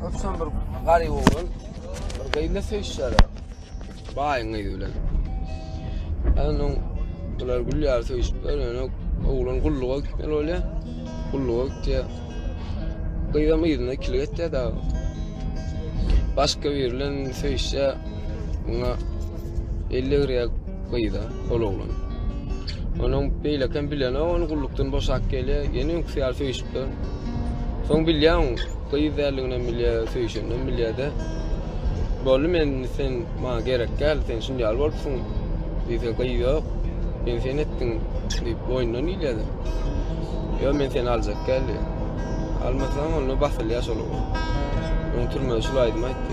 Öpsem bir garyp oglan. Bir gyýna söýşýär. Baýyň gyýy bilen. Anun bular gülýär söýşüpler. Ýöne oglan gulluga gitmeli bolýar. Gulluga gitýär. Gyýam ýerine kilik etýär da. Başga bir bilen söýşýär. Muňa 50 gryýak gyýda. ol oglan. Onuň beýlekem bilenok, ony gullukdan boşap gelýär, ýene öňküsi ýaly söýüşipler. Soň bilýän, gyz däldiginden bilýär, söýüşenden bilýär-de. Boldy men sen maňa gerek däl, sen şindi ýaly bolupsyň. Diýse gyz ýok. Men sen etdiň diýip boýnundan ilýär. Ýok men seni aljak däl. Almasaň onda basylýar şol oglan. Onuň türmesi şul aýdymy aýtdy.